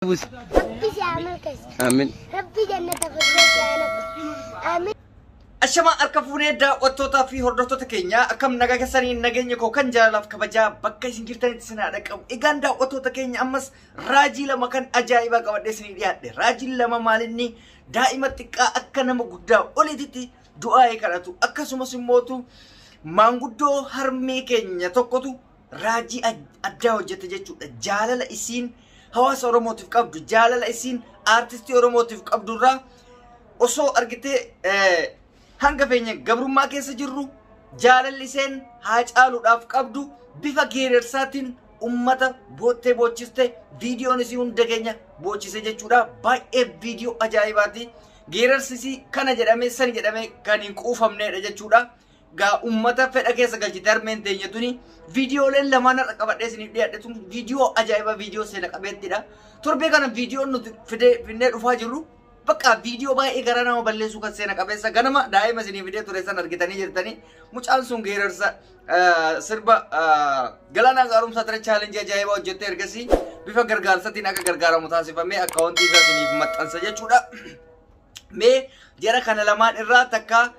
busi. Rabbi si haa milkeessu. Amin. Rabbi jannata firdoosi haa lafa. Amin. Ashama harka fuunee daawwattootaa fi hordoftoota keenya akkam nagaa keessanii nageenya koo kan jaalalaaf kabajaa bakka isin jirtanitti isin haa dhaqqabu. Egaan daawwattoota keenya ammas raajii lama kan ajaa'ibaa qabadhee isinii dhiyaadhe. Raajiin lama maalinni daa'ima xiqqaa akka nama guddaa oliititti du'aa'ee kadhatu akkasumas immootu maanguddoo harmee keenya tokkotu raajii addaa hojjette jechuudha. Jaalala isiin hawaasa Oromootiif qabdu, jaalala isiin aartistii Oromootiif qabdu irraa osoo argitee hanga feenya gabrummaa keessa jirru jaalalli iseen haa caaluudhaaf qabdu bifa geerersaatiin ummata boottee boochiste viidiyoon isii hunda keenya boochise jechuudha. Baay'ee viidiyoo ajaa'ibaati. Geerarsisii kana jedhamee sani jedhamee kan hin quufamneedha jechuudha. gaa ummata fedha keessa galchite harmeen teenya tuni viidiyooleen lamaan har'a qabadhee isiniif dhiyaadhe tun viidiyoo ajaa'iba viidiyoo seena qabeettidha torbee kana viidiyoon nuti fidee finnee dhufaa jirru bakka viidiyoo baay'ee garaa nama balleessuu kan seena qabeessa ganama daa'ima isinii fidee ture san argitanii jirtanii mucaan sun geerarsa ah, sirba ah, galaanaa gaarumsaa ture chaalenjii ajaa'ibaa hojjettee ergasii bifa gargaarsatiin akka gargaaramu taasifamee akkaawwantii isaa isiniif maxxansa jechuudha. Mee jara kana lamaan irraa takka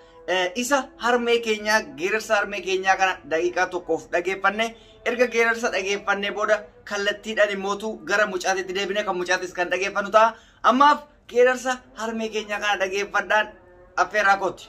isa harmee keenyaa geerarsa harmee keenyaa kana daqiiqaa tokkoof dhageeffanne erga geerarsa dhageeffannee booda kallattiidhaan immootu gara mucaatitti deebine kan mucaatis kan dhageeffannu ta'a. Ammaaf geerarsa harmee keenyaa kana dhageeffadhaan affeeraa kooti.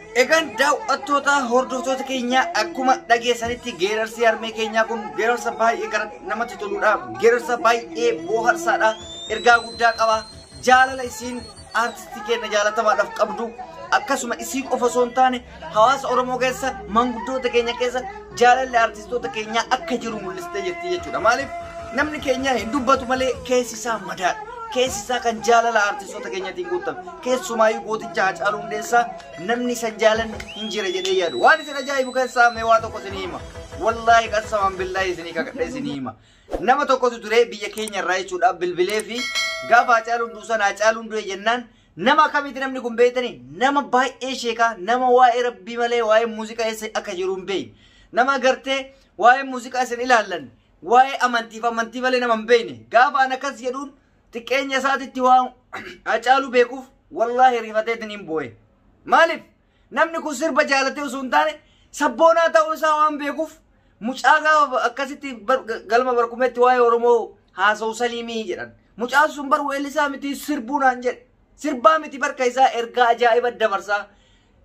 Egaan daaw'attoota hordoftoota keenyaa akkuma dhageessanitti geerarsi harmee keenyaa kun geerarsa baay'ee gara namatti toludha. Geerarsa baay'ee booharsaadha. Ergaa guddaa qaba. Jaalala isiin aartistii keenya jaalatamaadhaaf qabdu akkasuma isii qofa osoo hin taane hawaasa Oromoo keessa manguddoota keenya keessa jaalalli aartistoota keenyaa akka jiru mul'istee jirti jechuudha. Maaliif namni keenya hin dubbatu malee keessi isaa madaadha. Keessi isaa kan jaalala aartistoota keenyatiin guutame. Keessumaayyu gooticha Haacaaluu Hundeessaa namni isa jaalan hin jira jedhee yaadu. Waan isin ajaa'ibu keessaa mee waa tokko isinii hima. Wallaahi qasamaan billaahi isinii kakadhe isinii hima. Nama tokkotu ture biyya keenya irraa jechuudha bilbilee fi gaafa Haacaaluun duusan Haacaaluun du'e jennaan nama akkamitti namni kun beektani nama baay'ee sheekaa nama waa'ee rabbii malee waa'ee muuziqaa eessa akka jiru hin beekne. Nama gartee waa'ee muuziqaa isin ilaallan waa'ee amantiif amantii malee nama hin beekne. Gaafa an akkas jedhuun xiqqeenya isaatitti waan hacaalu beekuuf wallaahi rifateetiin hin booye. Maaliif? Namni kun sirba jaalatee osoo hin taane sabboonaa ta'uu isaa waan beekuuf mucaa gaafa akkasitti bar- galma barkumetti waa'ee Oromoo haasa'u saliimii jedhan. Mucaan sun bar weellisaa miti sirbuu naan jedhe. Sirbaa miti barka isaa ergaa ajaa'iba dabarsaa.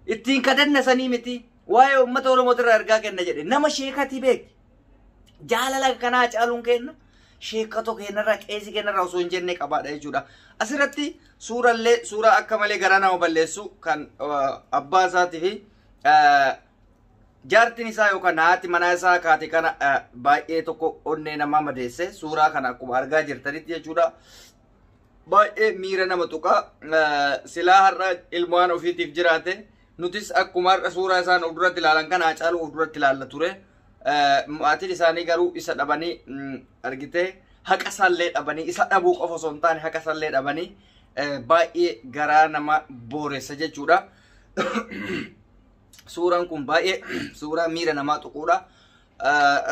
Ittiin kadanna sanii miti. Waa'ee uummata Oromoo irraa ergaa kenna jedhe. Nama sheekati beekti. Jaalala kanaa caaluun kenna. Sheekatoo kennarraa qeesii kennarraa osoo hin jenne qabaadha jechuudha. Asirratti suurallee suuraa akka malee garaa nama balleessu kan abbaa isaatii fi jaartiin isaa yookaan haati manaa isaa kaate kana baay'ee tokko onnee namaa madeesse suuraa kana akkuma argaa jirtanitti jechuudha. baay'ee miira nama tuqa silaa har'a ilmaan ofiitiif jiraate nutis akkuma har'a suuraa isaan of duratti ilaalan kana Haacaaluu of duratti ilaalla ture maatiin isaanii garuu isa dhabanii argitee haqa isaallee dhabanii isa dhabuu qofa osoo hin taane haqa isaallee dhabanii baay'ee garaa nama booressa jechuudha. Suuraan kun baay'ee suuraa miira namaa tuquudha.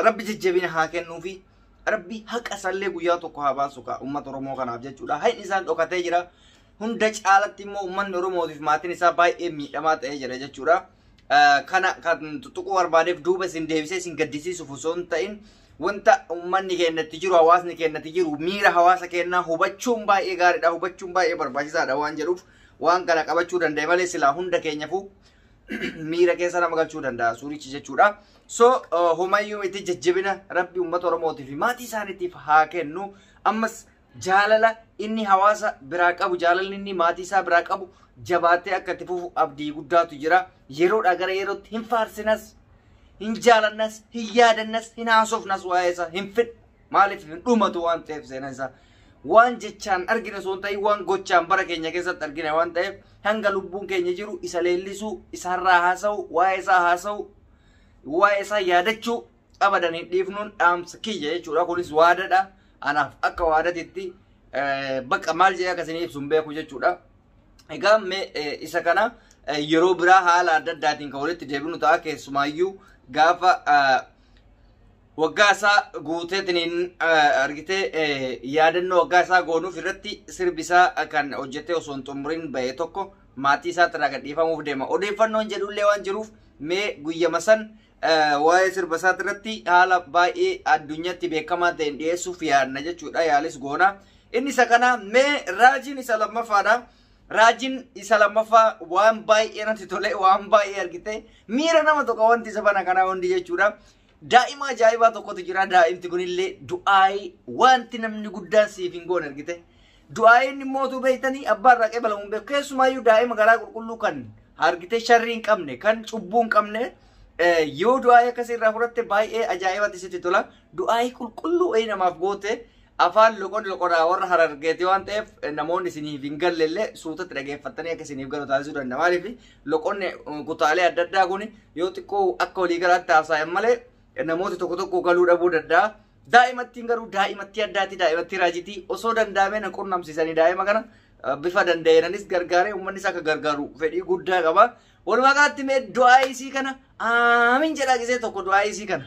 Rabbi jajjabina haa kennuufi. Rabbi haqa isallee guyyaa tokko haa baasu kaa uummata Oromoo kanaaf jechuudha. Haqni isaan dhokatee jira. Hunda caalatti immoo uummanni Oromootiif maatiin isaa baay'ee miidhamaa ta'ee jira jechuudha. Kana kan tuquu barbaadeef duuba isin deebisee isin gaddisiisuuf osoo hin ta'in wanta uummanni keenyatti jiru hawaasni keenyatti jiru miira hawaasa keenyaa hubachuun baay'ee gaariidha hubachuun baay'ee barbaachisaadha waan jedhuuf waan kana qabachuu danda'e malee silaa hunda keenyafu miira keessa nama galchuu danda'a suurichi jechuudha. So homayyuu miti jajjabina rabbi uummata Oromootiif fi maatii isaaniitiif haa kennu. Ammas jaalala inni hawaasa biraa qabu jaalalli inni maatii isaa biraa qabu jabaatee akka itti fufu abdii guddaatu jira. Yeroodhaa gara yerootti hin faarsinas hin jaalannas hin yaadannas hin haasofnas waa'ee isaa hin fedhu. Maaliif hin dhumatu waan ta'eef seenaa isaa. Waan jechaan argine osoo hin ta'in waan gochaan bara keenya keessatti argine waan ta'eef hanga lubbuun keenya jiru isa leellisuu, isaarraa haasa'u, waa'ee isaa haasa'u, waa'ee isaa yaadachuu abadan hin dhiifnuun dhaamsa kiyya jechuudha. Kunis waadadha. Anaaf akka waadatitti bakka maal jedhee akka isinii ibsu hin beeku jechuudha. Egaa mee isa kana yeroo biraa haala adda addaatiin kan walitti deebinu ta'a keessumaayyuu gaafa waggaa isaa guuteetiniin eh, argitee eh, yaadannoo waggaa isaa goonuuf irratti sirbi isaa kan hojjetee osoo hin xumuriin ba'e tokko maatii isaatti irraa gadhiifamuuf deema. Odeeffannoon jedhullee waan jiruuf mee guyyama san eh, waa'ee sirba isaatti irratti haala baay'ee addunyaatti beekamaa ta'een dhiyeessuuf yaadna jechuudha yaalis goona. Inni isa kana mee raajiin isa lammaffaadha. Raajiin isa lammaffaa waan baay'ee natti tole waan baay'ee argite miira nama tokko wanti isa bana kanaa hundi jechuudha. Daa'ima ajaa'ibaa tokkotu jira. Daa'imti kunillee du'aayii wanti namni guddaan siif hin goone argite. Du'aayiin immoo utuu beektanii abbaa irraa qeebalamu hin beeku. Keessumaayyuu daa'ima garaa qulqulluu kan argite sharrii hin qabne kan cubbuu hin qabne eh, yoo du'aayii akkasii irraa fudhatte baay'ee ajaa'ibatti sitti tola. Du'aayii qulqulluu wayii namaaf goote Afaan loqod loqodaa warra harargeeti waan ta'eef namoonni isiniif hin galle illee suutatti dhageeffattanii akka isiniif galu taasisuu danda'a. Maaliif loqonni eh, kutaalee adda addaa kun yoo xiqqoo akka waliigalaatti haasa'an malee eh, namooti tokko tokko galuu dhabuu danda'a. Daa'imattiin garuu daa'imattii addaati daa'imattii raajitii osoo danda'amee na qunnamsiisanii daa'ima kana eh, bifa danda'eenanis gargaaree uummannis akka gargaaru fedhii guddaa qaba. Walumaa galatti mee du'aa isii kana aamiin jedhaa gisee tokko du'aa isii kana.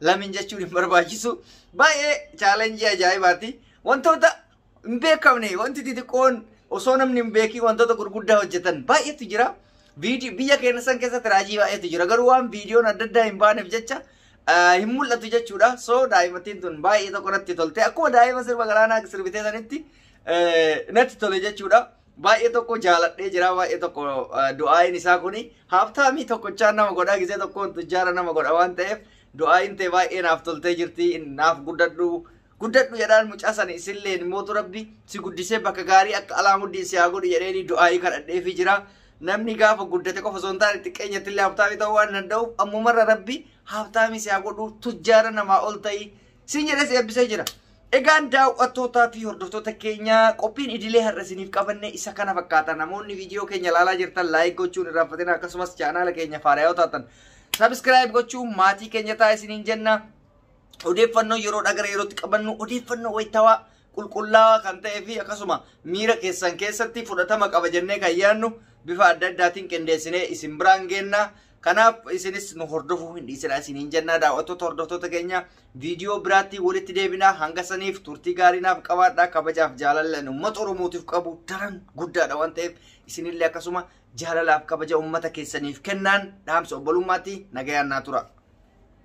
lamin jechuun hin barbaachisu. Baay'ee chaalenjii ajaa'ibaati. Wantoota hin beekamne wanti xixiqqoon osoo namni hin beekin wantoota gurguddaa hojjetan baay'eetu jira. Viidi- Biyya keenya san keessatti raajii baay'eetu jira. Garuu waan viidiyoon adda addaa hin baaneef jecha ah, hin mul'atu jechuudha. So daa'imattiin tun baay'ee tokko natti tolte. Akkuma daa'ima sirba galaanaa sirbitee sanitti eh, natti tole jechuudha. Baay'ee tokko jaaladhee jira baay'ee tokko du'aayin isaa kuni haabtaamii tokkochaan nama godhaa gisee tokkoon tujjaara nama godha waan ta'eef du'aayin ta'e baay'ee naaf toltee jirti naaf guddadhu guddadhu jedhaan mucaa sana isilleen mootu rabbi si guddisee bakka gaarii akka alaamuddin si haa godhu jedheeni du'aayii kadhadheefi jira namni gaafa guddate qofa osoo hin taane xiqqeenyatti illee haabtaamii ta'uu waan danda'uuf ammumarra rabbi haabtaamii si haa godhu tujjaara namaa ol ta'ii Siin jedhes eebbisee jira. Egaan daawwattootaa fi hordoftoota keenya qophiin idilee har'a isiniif qabanne isa kana fakkaata. Namoonni viidiyoo keenya ilaalaa jirtan laayik gochuun hin irraanfatina akkasumas chaanaala keenya faarayoo taatan sabiskiraayib gochuun maatii keenya ta'a isiniin jenna. Odeeffannoo yeroo dhagara yerootti qabannu odeeffannoo wayitawaa qulqullaawaa kan ta'ee fi akkasuma miira keessan keessatti fudhatama qaba jennee kan yaadnu bifa adda addaatiin qindeessinee isin biraan geenna. Kanaaf isinis nu hordofuu hin dhiisinaa isiniin jennaa daawwattoota hordoftoota keenya viidiyoo biraatti walitti deebinaa hanga saniif turtii gaarii naaf qabaadhaa kabajaaf jaalalleen uummata Oromootiif qabu daran guddaadha waan ta'eef isinillee akkasuma jaalalaaf kabaja uummata keessaniif kennaan dhaamsa obbolummaatti nagayaan naa tura.